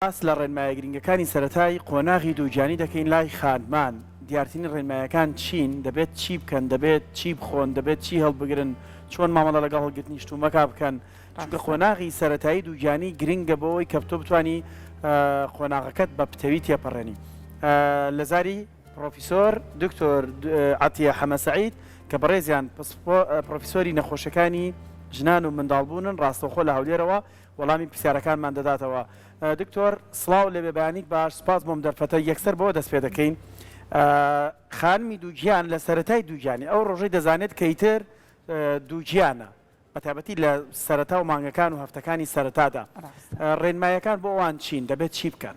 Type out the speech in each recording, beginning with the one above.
باس لە ڕێنمایە گرنگەکانی سەرەتای قۆناغی دووگیانی دەکەین لای خانمان، دیارترین ڕێنمایەکان چین، دەبێت چی بکەن، دەبێت چی بخۆن، دەبێت چی هەڵبگرن، چۆن مامەڵە لەگەڵ هەڵگرتنی شتومەکە بکەن، چونکە قۆناغی سەرەتایی دووگیانی گرنگە بۆوەی کە تۆ بتوانی قۆناغەکەت بە پتەوی تێپەڕێنی. لە زاری پڕۆفیسۆر دکتۆر عەتیە حەمە سەعید کە بەڕێزیان پسپۆ پڕۆفیسۆری نەخۆشەکانی ژنان و منداڵبوونن ڕاستەوخۆ لە هەولێرەوە وەڵامی پرسیارەکانمان دەداتەوە. دکتۆر سڵاو لە بێبەیانیت باش سپاس بۆم دەرفەتە یەکسەر بەوە دەست پێدەکەین خانمی دووگیان لە سەرەتای دووگیانی ئەو ڕۆژەی دەزانێت کە ئیتر دووگیانە بەتابەتی لە سەرەتا و مانگەکان و هەفتەکانی سەرەتادا ڕێنمایەکان بۆ ئەوان چین دەبێت چی بکەن؟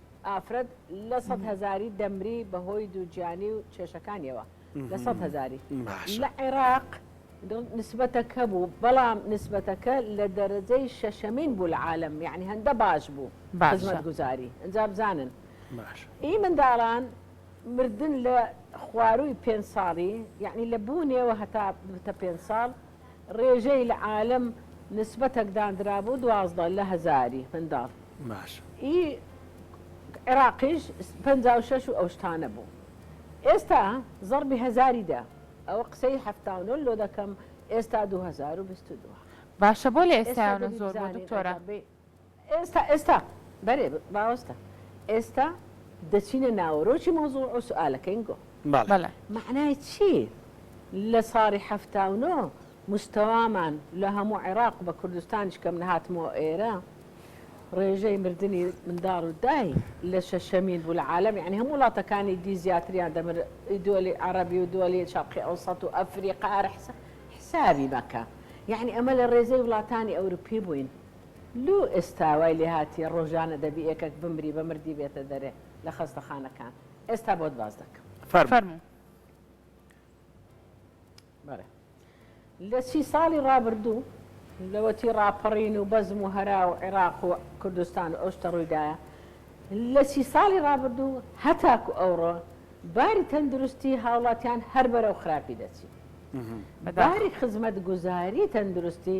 ئافرەت لە سەد هەزاری دەمری بە هۆی دووگیانی و کێشەکانیەوە لە سەد هەزاری لە عێراق نسبەتەکە بوو بەڵام نسبەتەکە لە دەرەجەی شەشەمین بوو لە عالم یعنی هەندە باش بوو باشمەت گوزاری ئەجا بزانن ئی منداڵان مردن لە خوارووی پێنج ساڵی یعنی لە بوونێەوە هەتا بتە پێنج ساڵ ڕێژەی لە عالم نسبەتەک داندرابوو دوازدە لە هەزاری منداڵ باش. ئی عراقیش پەنجا و شەش و ئەو شتانە بوو ئێستا زەڕبی هەزاری دە ئەوە قسەی حەفتا و نۆ لۆ دەکەم ئێستا دوو هەزار و بیست و دوو. باشە بۆ لە ئێستایانە زۆر بوو دکتۆرە. ئێستا ئێستا بەرێ ڕاوەستە ئێستا دەچینە ناوەرۆکی مەوزوع و سوئالەکەین گۆ. بەڵێ. مەعنای چی لە ساڵی حەفتا و نۆ مستەوامان لە هەموو عێراق و بە کوردستانیش کەم نەهاتمەوە ئێرە ڕێژەی مردنی منداڵ و دای لە شەشەمین بوو لە عالم یعنی هەموو وڵاتەکانی دی زیاتریان دەمر دۆلی عربی و دۆلی شەقی ئەو سەد و ئەفریقا هەرحسە حسابی مەکە یعنی ئەمە لە ڕێزەی وڵاتانی ئەوروپی بووین لو ئێستاوای لێهاتیە ڕۆژانە دەبی ئێکەک بمری بە مردی بێتە دەرێ لە خەستەخانەکان ئێستا بۆت باز دەکەم فەرموو. بەڵێ لە سی ساڵی ڕابردوو لەوەتی ڕاپەڕین و بەزم و هەرا و عێراق و کوردستان و ئەوشتە ڕوویدایە لە سی ساڵی ڕابردوو هەتاکو ئەوڕۆ باری تەندروستی هاوڵاتیان هەر بەرەو خراپی دەچی باری خزمەت گوزاری تەندروستی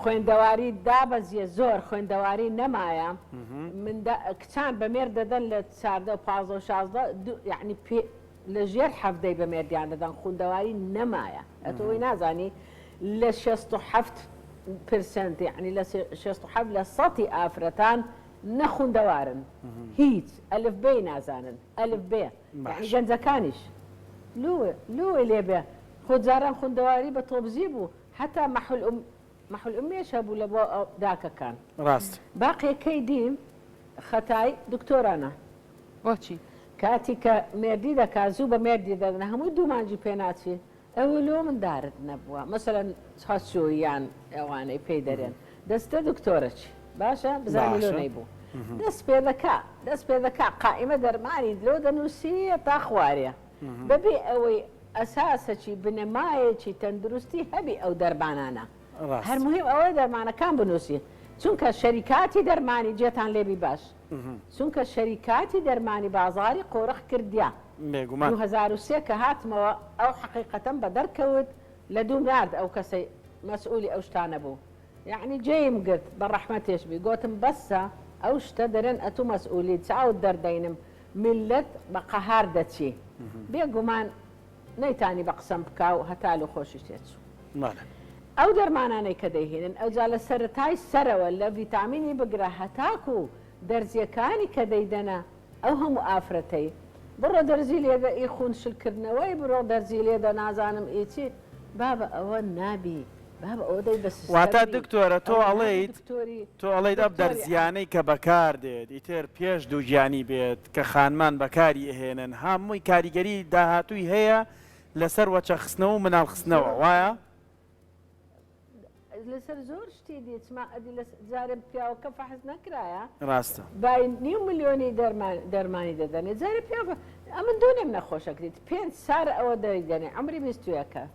خوێندەواری دابەزیە زۆر خوێندەواری نەمایە من کچان بە مێرد دەدەن لە چاردە پازە و شازدە یعنی پێ لە ژێر حەفدەی بە مێردیان دەدەن خوندەواری نەمایە ئەتەوەی نازانی لە شەست و حەفت پرسنت یعنی لە شەست و حەفت لە سەتی ئافرەتان نەخوندەوارن هیچ ئەلف بێ نازانن ئەلف بێ گەنجەکانیش لوێ لوێ لێبێ خۆجاران خوندەواری بە تۆبزی بوو هەتا مەحولئوم مەحولئومیەش هەبوو لە بۆ داکەکان ڕاست. باقی کەی دی خەتای دکتۆرانە. بۆچی؟ کاتی کە مێردی دەکا زوو بە مێردی دەدەنە هەمووی دوو مانجی پێ ناچی ئەوە لۆ مندارت نەبووە مەسەلەن چاچۆ یان ئەوانەی پێی دەرێن دەستە دکتۆرە چی باشە بزانی لۆ نەیبوو دەست پێ دەکا دەست پێ دەکا قائیمە دەرمانی لۆ دەنووسی هەتا خوارێ بەبێ ئەوەی ئەساسەکی بنەمایەکی تەندروستی هەبی ئەو دەرمانانە هەر موهیم ئەوەیە دەرمانەکان بنوسی چونکە شەریکاتی دەرمانی جێتان لێبی باش چونکە شەریکاتی دەرمانی بازاری قۆرخ کردیا بێگومان دوو هەزار و سێ کە هاتمەوە ئەو حەقیقەتەم بە دەرکەوت لە دووم نارد ئەو کەسەی مەسئولی ئەو شتانە بوو یەعنی جێیم گرت بە ڕەحمەتێش بی گۆتم بەسە ئەو شتە دەرێن ئەتوو مەسئولیت چاوت دەردەینم میللەت بە قەهار دەچی بێ گومان نەیتانی بە قسەم بکا و هەتا لۆ خۆشی تێچوو ئەو دەرمانانەی کە دەیهێنن ئەوجا لە سەرەتای سەرەوە لە ڤیتامینی بگرە هەتاکو دەرزیەکانی کە دەیدەنە ئەو هەموو ئافرەتەی بڕۆ دەرزی لێدە ئی خون شل کردنەوەی بڕۆ دەرزی لێدە نازانم ئی چی بابە ئەوە نابی واتە دکتۆرە تۆ ئەڵێیت تۆ ئەڵێیت ئەم دەرزییانەی کە بەکاردێت ئیتر پێش دووگیانی بێت کە خانمان بەکاری ئەهێنن هەمووی کاریگەری داهاتووی هەیە لەسەر وەچەخستنەوە و مناڵخستنەوە وایە؟ لەسەر زۆر شتی دیچما ئەدی لە جارم پیاوەکە فەحز نەکرایە ڕاستە بای نیو ملیۆنی دەرمان دەرمانی دەدەنێ جارە پیاوە ئەمن دۆنێم نەخۆشەکریت پێنج سار ئەوە دەری دەنێ ئەمری بیستویەکە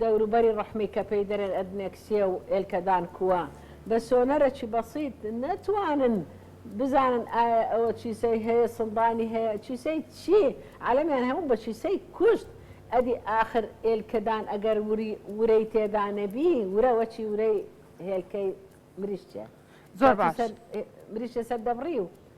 دەوروبەری ڕەحمی کە پێی دەرێن ئەدنێکسیە و ئێلکەدان کووە بە سۆنەرەکی بەسیت نەتوانن بزانن ئایا ئەوە چیسەی هەیە سندانی هەیە چیسەی چی عالەمیان هەموو بە چیسەی کوشت ئەدی ئاخر ئێلکەدان ئەگەر وری ورەی تێدا نەبی ورە وەچی ورەی هێلکەی مریشکە زۆر باش مریشکە سەر دەبڕی و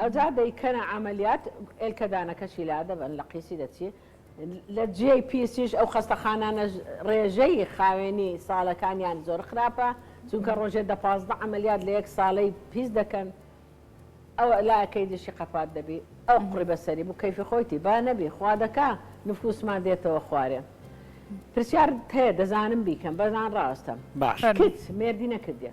ئەوجا دەیکەنە عەمەلیات ئێلکەدانەکەشی لادەبەن لە قیسی دەچی لە جێی پیسیش ئەو خەستەخانانەش ڕێژەی خاوێنی ساڵەکانیان زۆر خراپە چونکە ڕۆژێ دە پازدە عەمەلیات لە یەک ساڵەی پیس دەکەن ئەو لاکەی دشی قەپات دەبی ئەو قوڕی بەسەری بوو کەیفی خۆیتی با نەبی خوا دەکا نفوسمان دێتەوە خوارێ پرسیارت هەیە دەزانم بیکەم بەس ناڕاستە کچ مێردی نەکردیە.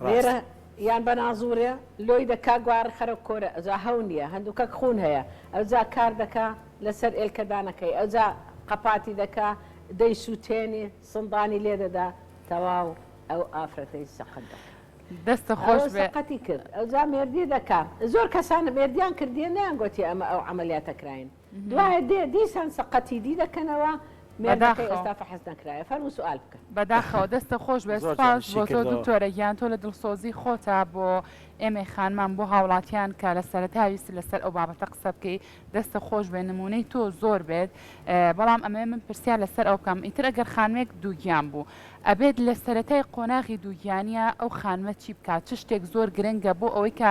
ڕاست. لێرە یان بە نازوورێ لۆی دەکا گوارە خەرە کۆرە ئەوجا هەو نییە هەندووکەک خوون هەیە ئەوجا کار دەکا لەسەر ئێلکەدانەکەی ئەوجا قەپاتی دەکا دەیسووتێنێ سندانی لێ دەدا تەواو ئەو ئافرەتەی سەقەت دەکا دەستە خۆش ئەوە بێ. سەقەتی کرد ئەوجا مێردی دەکا زۆر کەسان مێردیان کردیە نەیانگۆتیە ئەمە ئەو عەمەلیاتە کراین. دوایە دێ دیسان سەقەتی دی دەکەنەوە مێردەکەی ئێستا فەحس نەکرایە فەرموو سوال بکە بەداخەوە دەستە خۆش بێت سوپاس بۆ تۆ دکتۆرە گیان تۆ لە دڵسۆزی خۆتە بۆ ئێمەی خانمان بۆ هاوڵاتیان کە لە سەرەتا ویست لەسەر ئەو بابەتە قسە بکەی دەستە خۆش بێ نمونەی تۆ زۆر بێت بەڵام ئەمێ من پرسیار لەسەر ئەو بکەم ئیتر ئەگەر خانمێک دووگیان بوو ئەبێت لە سەتای قۆناغی دووگیانە ئەو خانمە چی بکات چ شتێک زۆر گرنگە بۆ ئەوەی کە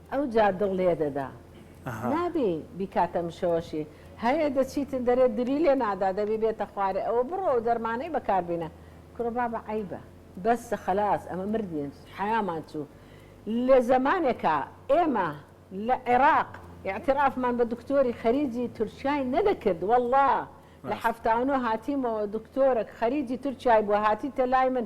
ئەوجا دڵ لێدەدا نابی بیکاتە مشەوەشی هەیە دەچیتن دەرێ دری لێ نادا دەبی بێتە خوارێ ئەوە بڕۆ ئەو دەرمانەی بەکار بینە کورە بابە عەیبە بەسە خەلاس ئەمە مردین حەیامان چوو لە زەمانێکا ئێمە لە عێراق ئیعترافمان بە دکتۆری خەریجی تورکیای نەدەکرد وەڵا لە حەفتا و نۆ هاتیمەوە دکتۆرەک خەریجی تورکیای بووە هاتیتە لای من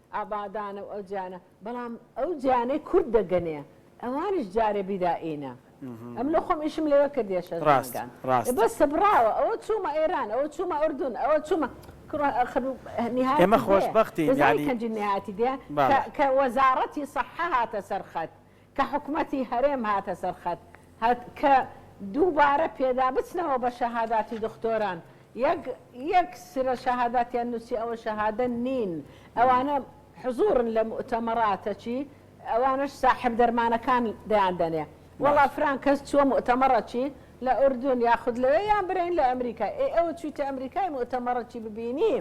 ئابادانە و ئەو جیانە بەڵام ئەو جیانەی کورد دەگەنێ ئەوانیش جارێ بیدا ئینە ئەم لۆ خۆم ئیشم لێوە کردیە شەش مانگان بەس سەبڕاوە ئەوە چوومە ئێران ئەوە چوومە ئوردون ئەوە چوومە ئێمە خۆشببختی کەنجی نهاتی دێ کە وەزارەتی سەحە هاتە سەرخەت کە حکومەتی هەرێم هاتە سەر خەت هەت کە دووبارە پێدا بچنەوە بە شەهاداتی دختۆران یەک یەک سرە شەهاداتیان نووسی ئەوە شەهادە نین ئەوانە حزورن لە موئتەمەڕاتە چی ئەوانەش ساحێب دەرمانەکان دەیان دەنێ وەڵا فران کەس چووە موئتەمەڕە چی لە ئوردون یاخود لەوێ یان برێن لە ئەمریکا ئێ ئەوە چوویتە ئەمریکای موئتەمەڕە چی ببینی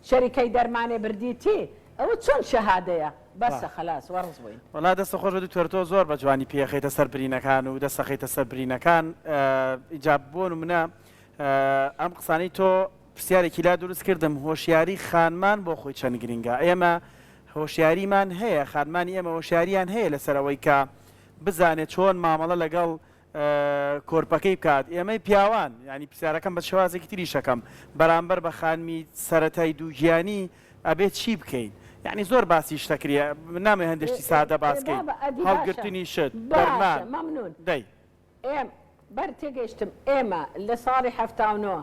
شەریکەی دەرمانێ بردی تی. ئەوە چۆن شەهادەیە بەسە خەلاس وەڕس بووین. وەڵا دەست خۆش بێت دکتۆر تۆ زۆر بە جوانی پێیەخەیتە سەر برینەکان و دەست ئەخەیتە سەر برینەکان ئینجا بۆ نمونە ئەم قسانەی تۆ پرسیارێکی لا دروست کردم هۆشیاری خانمان بۆ خۆی چەند گرنگە ئێمە هۆشیاریمان هەیە خانمانی ئێمە هۆشیاریان هەیە لەسەر ئەوەی کە بزانێت چۆن مامەڵە لەگەڵ کۆرپەکەی بکات ئێمەی پیاوان یانی پرسیارەکەم بە شێوازێکی تریش ئەکەم بەرامبەر بە خانمی سەرەتای دووگیانی ئەبێت چی بکەین یانی زۆر باسی شتە کرێ نامێ هەندێک شتی سادە باس بکەین بابە ئەدی باشە هەڵگرتنی شت باشە دەرمان مەمنون دەی ئێم بەر تێگەیشتم ئێمە لە ساڵی حەفتا و نۆ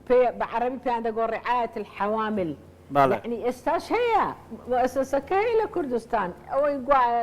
پێ بە عەڕەبی پێیان دەگۆ ڕیعایەت الحەوامل بەڵێ یانی ئێستاش هەیە موئەسەسەکە هەیە لە کوردستان ئەوەی گوایە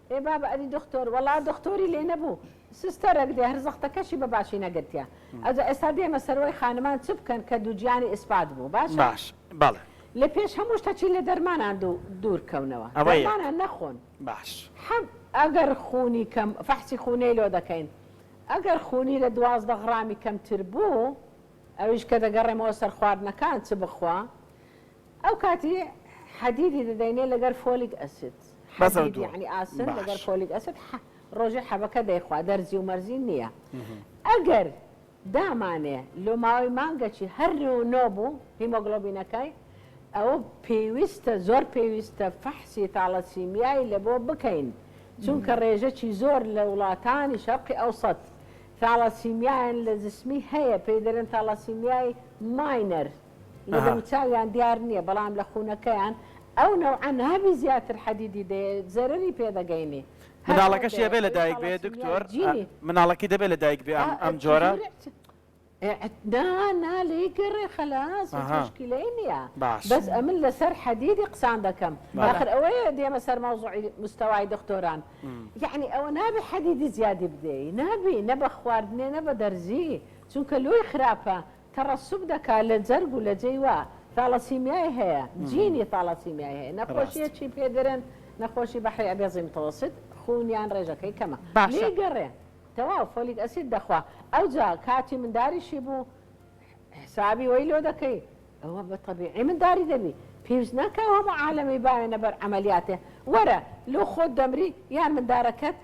ئێ بابە ئەدی دختۆر وەڵا دختۆری لێ نەبوو سستەرەک دێ هەر زەختەکەشی بە باشی نەگرتیە ئەوجا ئێستا دێمە سەروەی خانمان چ بکەن کە دووگیانی ئیسپات بوو باشە باش بەڵێ لە پێش هەموو شتەکی لە دەرمانان دوو دوور کەونەوە ئەوە یەک دەرمانان نەخۆن باش حەب ئەگەر خونی کەم فەحسی خونێی لۆ دەکەین ئەگەر خونی لە دوازدە غڕامی کەمتر بوو ئەویش کە دەگەڕێمەوە سەر خواردنەکان چ بخوا ئەو کاتی حەدیدی دەدەینێ لەگەر فۆلیک ئەسید حەدید یەعنی ئاسن لەگەر فۆلیک ئەسید ڕۆژێ حەبەکە دەیخوا دەرزی و مەرزی نییە ئەگەر دامانێ لۆ ماوەی مانگەکی هەر نێو نۆ بوو هیمۆگلۆبینەکەی ئەوە پێویستە زۆر پێویستە فەحسی تاڵەسیمیایی لە بۆ بکەین چونکە ڕێژەکی زۆر لە وڵاتانی شەرقی ئەو سەد تاڵەسیمیایان لە جسمی هەیە پێی دەرن تاڵەسیمیایی ماینەر لە دەموچاویان دیار نیە بەڵام لە خونەکەیان ئەو نەوعە نابی زیاتر حەدیدی دەیێ زەرەری پێ دەگەینی مناڵەکەشی ئەبێ لە دایک بێ دکتۆر مناڵەکەی دەبێ لە دایک بێ ئەم جۆرە نا نا لێی گەڕێ خەلاس مشکلەی نییە بەس ئەمن لەسەر حەدیدی قسان دەکەم آخر ئەوەیە دێمە سەر مەوزوعی مستەوای دکتۆران یعنی ئەوە نابێ حەدیدی زیادی بدەی نابی نە بە خواردنێ نە بە دەرزی چونکە لۆی خراپە تەڕەسوب دەکا لە جەرگ و لە جێی وا ثالاسیمیای هەیە جینی ثالاسیمیای هەیە نەخۆشیە چی پێ درن نەخۆشی بەحری ئەبێزی متەوەسیت خوونیان ڕێژەکەی کەمە لێی گەڕێ تەواو فۆلیک ئەسید دەخوا ئەوجا کاتی منداریشی بوو حسابی وەی لۆ دەکەی ئەوە بە تەبیعی منداری دەبی پێویست ناکا ئەو هەموو عالەمەی باوێنە بەر عەمەلیاتێ وەرە لۆ خۆت دەمری یان مندارەکەت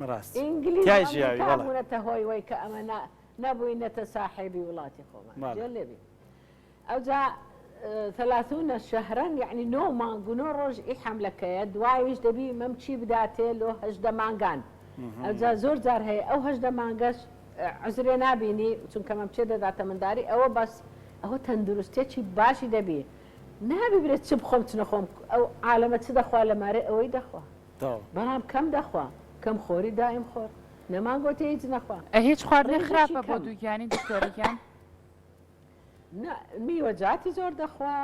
بەڕاستی ئینگلیز و ئەمریکا بوونەتە هۆی وەی کە ئەمە نەبووینەتە ساحێبی وڵاتی خۆمان جێ لێبی ئەوجا ثلاثون شهرا یعنی نۆ مانگ و نۆ ڕۆژ ئی حملەکەیە دوایش دەبی مەم چی بداتێ لۆ هەژدە مانگان ئەوجا زۆر جار هەیە ئەو هەژدە مانگەش عزرێ نابینی چونکە مەم چێ دەداتە منداری ئەوە بەس ئەوە تەندروستێکی باشی دەبی نابی برێت چ بخۆم چ نەخۆم ئەو عالەمە چ دەخوا لە مارێ ئەوەی دەخوا تەواو. برام کەم دەخوا کەم خۆری دایم خۆر نەمان گۆتی هیچ نەخوا. ئە هیچ خواردنێ خراپە بۆ دووگیانی دکتۆرە گیان؟ نا میوەجاتی زۆر دەخوا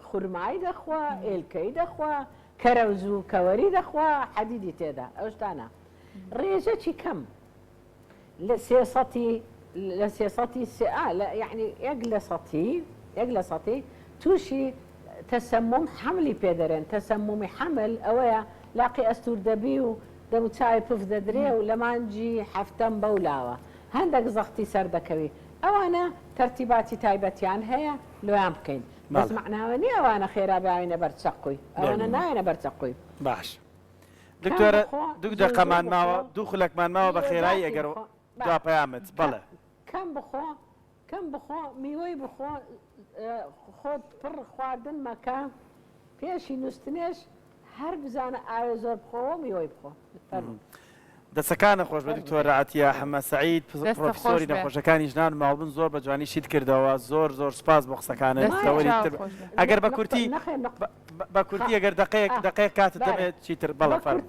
خورمای دەخوا ئێلکەی دەخوا کەرەوز و کەوەری دەخوا حەدیدی تێدا ئەوشتانە ڕێژەکی کەم لە سێ سەتی لە سێ سەتی سێ ئا لە یەعنی یەک لە سەتی یەک لە سەتی تووشی تەسەموم حەملی پێ دەرێن تەسەمومی حەمل ئەوەیە لاقی ئەستوور دەبی و دەموچاوی پف دەدرێ و لە مانگی حەفتەم بەو لاوە هەندەک زەختی سەر دەکەوی ئەوانە تەرتیباتی تایبەتیان هەیە لۆیان بکەین بەس مەعناوە نییە ئەوانە خێرا بیاوینە بەر چەقوی ئەوانە نایەنە بەر چەقوی. دکتۆرە دوو دەقەمان ماوە دوو خولەکمان ماوە بە خێرایی ئەگەر دوا پەیامت بەڵێ کەم بخۆ کەم بخۆ میوەی بخۆ خۆت پڕ خواردن مەکە پێشی نووسنێش هەر بزانە ئاوێ زۆر بخۆەوە میوەی بخۆ دەسەکانت خۆش بێت دکتۆر عەتیە حەمە سەعید پڕۆفیسۆری نەخۆشەکانی ژنان و ماڵبن زۆر بە جوانی شیت کردەوە زۆر زۆر سپاس بۆ قسەکانت تەوەری ئەگەر بە کورتی بە کورتی ئەگەر دقەیەک دقەیەک کاتت دەبێت چیتر بەڵە فەرموو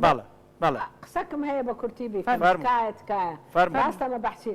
بەڵێ بەڵێ قسەکم هەیە بە کورتی بیکەم تکایە تکایە فەرموو راستە مەبەحسی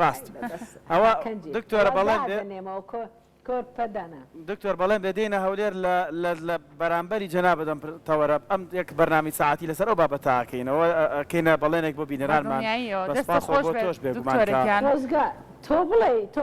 ڕاست ئەوە دکتۆرە بەڵێن بێ دکتۆر بەڵێن بێ دێنە هەولێر لە بەرامبەری جەنا بدەم تەوەرە ئەم یەک بەرنامی ساعتی لەسەر ئەو بابەتاکەینەوە کەینە بەڵێنێک بۆ بینەرانمان تۆش بێگومان تۆ بڵێ تۆ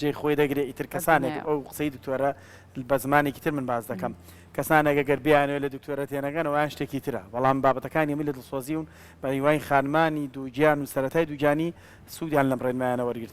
جێی خۆی دەگرێ ئیتر کەسانێک ئەو قسەی دکتۆرە بە زمانێکی تر من باس دەکەم کەسانێکە گەر بیانوێت لە دکتۆرە تێنەگەنەوەیان شتێکی ترە بەڵام بابەتەکانی من لە دڵسۆزیون بە هیوای خانمانی دووگیان و سەتای دووگیانی سوودیان لەم ڕێنمایانە وەرگرت